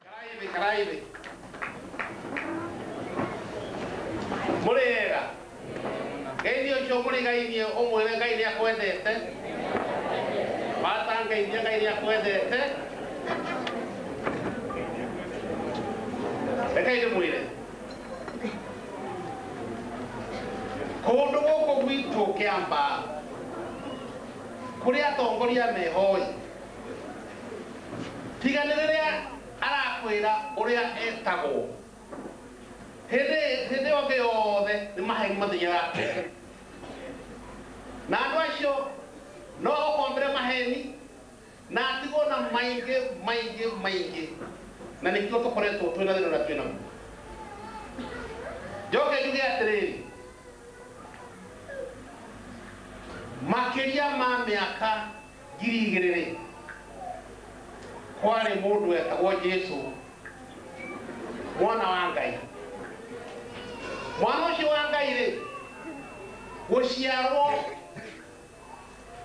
Karaibe, karaibe. Mũrĩega. Ngai ũcio mũrĩ Ngai nĩ ũmwĩre Ngai nĩ akwendete. Mata Ngai nĩ Ngai nĩ akwendete. Rekei ndĩmwĩre. Kũndũ gũkũ gwitũ kĩamba kũrĩ atongoria mehoi Tiga nĩ rĩrĩa arakwĩra ũrĩa etagwo. Hĩndĩ hĩndĩ ĩyo ĩngĩ yothe nĩ maheni mathiaga mbere. Na andũ acio no ũkombĩre maheni na atigwo na maingĩ maingĩ maingĩ. Na nĩkĩo tũkoretwo twĩ na thĩna ũrĩa twĩ naguo. Njoke njuge atĩrĩrĩ, makĩria ma mĩaka ngiri igĩrĩ rĩ kwarĩ mũndũ wetagwo jesu mwana wa ngai mwana ũcio wa ngai rĩ gũciarwo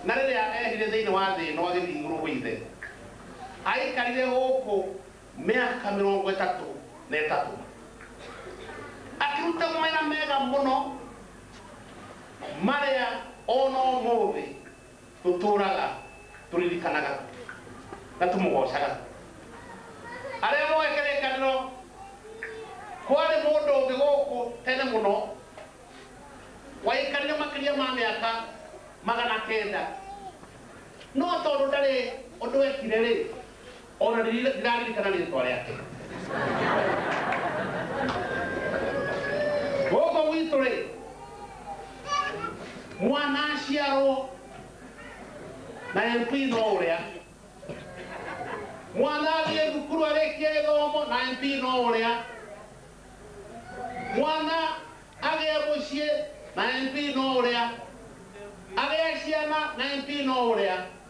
na rĩrĩa ehire thĩinĩ wa thĩ ĩno agĩthiĩ igũrũ gwĩ ithe aikarire gũkũ mĩaka mĩrongo ĩtatũ na ĩtatũ akĩruta mawĩra mega mũno marĩa ona ũmũthĩ Tũtũũraga tũririkanaga na tũmũgoocaga. Arĩa mooĩ kĩrĩkanĩro. Kwarĩ mũndũ ũngĩ gũkũ tene mũno waikarire makĩria ma mĩaka magana kenda. No tondũ ndarĩ ũndũ eekire-rĩ. O na ndĩraririkana rĩtwa rĩake. Gũkũ gwitũ-rĩ, mwana aciarwo na MP no ũrĩa. Mwana athiĩ thukuru arĩkie gĩthomo na MP no ũrĩa. Mwana agĩe mũciĩ na MP no ũrĩa. Agĩa ciana na MP no ũrĩa.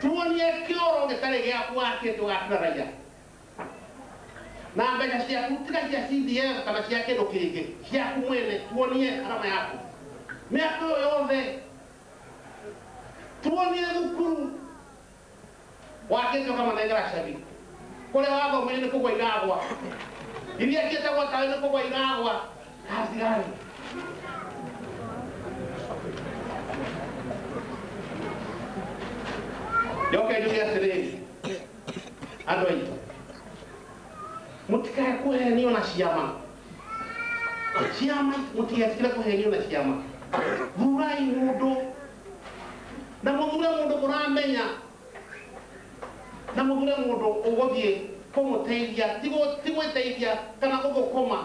Tuonie kĩoro gĩtarĩ gĩaku wakĩte ũgakĩra raiya. Na mbeca ciaku tiga cia CDF kana cia kĩndũ kĩngĩ, ciaku mwene, tuonie arama yaku. Mĩaka ĩyo yothe, tuonie thukuru wakĩte ũkamanengera cabi. Kũrĩa wathomeire nĩ kũgwa iragwa. Iria ciĩtagwo tawe nĩ kũgwa iragwa. Kazi gani? Yoka njuge atĩrĩrĩ, andũ aitũ, mũtikae kũhenio na ciama. Ciama, mũtigetigĩre kũhenio na ciama. Thurai mũndũ na mũthure mũndũ mũramenya Na mũthure mũndũ ũgũthiĩ kũmũteithia, ti gũ- ti gwĩteithia kana gũthũkũma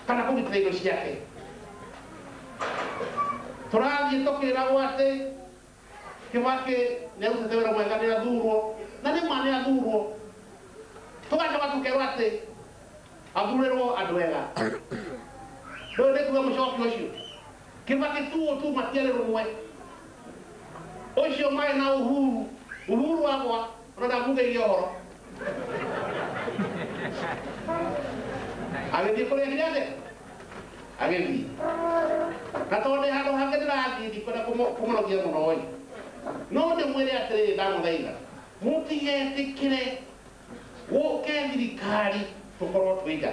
kana kũgitĩra indo ciake. Tũrathiĩ tũkĩragwo atĩ Kĩbakĩ nĩarutĩte wĩra mwega, nĩathurwo, na nĩ ma nĩathurwo. Tũgacoka tũkerwo atĩ athurĩrwo andũ ega. Ndũĩ nĩ kuga mũcoki ũcio? Kĩva kĩtuu ũtuma tialĩ lũmwe. Ũcio maĩ na Uhuru. Uhuru akwa o na ndamũvĩie ũvoro. Agĩthiĩ kũrĩa kĩrĩa kĩ? Agĩthiĩ. Na tondũ ndĩ handũ hangĩ ndĩrathiĩ ndikwenda kũmũnogia mũno-ĩ, no ndĩmwĩre atĩrĩrĩ, ndamũthaitha mũtigetĩkĩre gũke thirikari tũkorwo twĩiga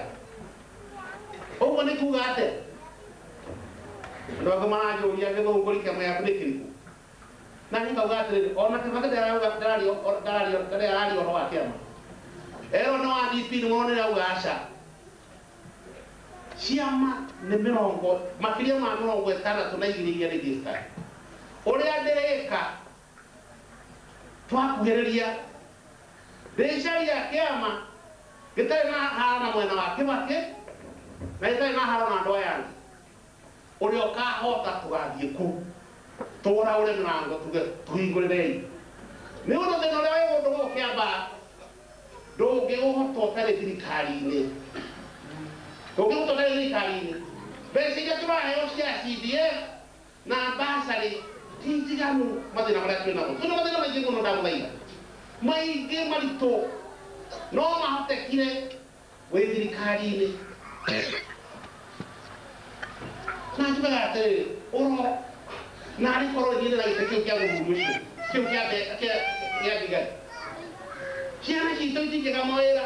ũguo nĩ kuga atĩ andũ angĩ maranjũria gĩthũngũ rikema yaku nĩ kĩrĩkũ na niĩ ngauga atĩrĩrĩ ona kĩbakĩ ndararia ũhoro wa kĩama erwo nĩ wa DP nĩ wona irauga aca ciama nĩ mĩrongo makĩria ma mĩrongo ĩtandatũ na igĩrĩ iria registered ũrĩa ndĩrĩka Twakuhĩrĩria, rĩcaria kĩama gĩtarĩ na haro na mwena wa Kĩbakĩ na gĩtarĩ na haro na andũ aya angĩ. Ũrĩa ũkahota tũgathiĩ kũu tũũraũre mĩrango tuge tũhingũrĩrei. Nĩ ũndũ thĩna ũrĩa wĩ gũndũ gũkũ Kĩamba ndũngĩũhota ũtarĩ thirikari-inĩ. Ndũngĩũhota ũtarĩ thirikari-inĩ. Mbeca iria tũraheo cia CDF Na mbacarĩ ti njiganu. Mathĩna marĩa twĩ namo. Twĩ na mathĩna maingĩ mũno ndagũthaitha. Maingĩ maritũ. No mahotekire wĩ thirikari-inĩ. Na njugaga atĩrĩrĩ, ũro, naarĩ korwo niĩ ndĩ na gĩtĩ kĩu kĩa mũthuri ũcio, kĩu kĩa mbe, kĩa, gĩa thigari. Ciana ciitũ itingĩga mawĩra.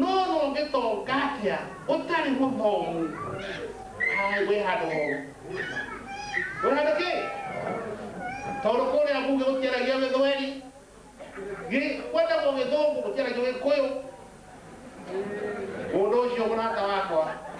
No no ũngĩtonga atĩa ũtarĩ mũthomu? Ai, wĩ handũ horu. Wĩ handũ kĩ? Tondũ kũrĩa mbunge gũtiaragio gĩthweri, gĩ- kwendagwo gĩthũngũ gũtiaragio gĩkũyũ. Mũndũ ũcio mũrata wakwa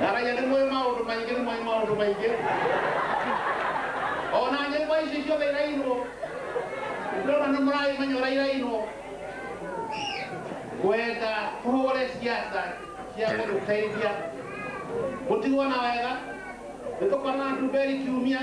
ngaraya nĩ mwĩ maũndũ maingĩ nĩ mwĩ maũndũ maingĩ ona nyĩmbo ici ciothe irainwo ndona nĩ mũragĩmenya ũrĩa irainwo kwenda tũhũre ciaca cia gũtũteithia gũtigwo na wega nĩ tũkorana na nduberi kiumia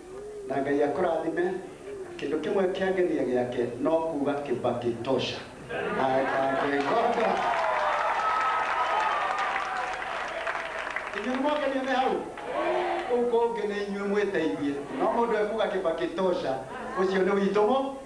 Na Ngai akũrathime. Kĩndũ kĩmwe kĩangenia gĩake no kuuga Kibaki tosha. Atangĩgoka. Inyuĩ nĩmwakenio nĩ hau? Kũu kũngĩ nĩ inyuĩ mwĩteithie. No mũndũ ekuuga Kibaki tosha, ũcio nĩ witũ mũ.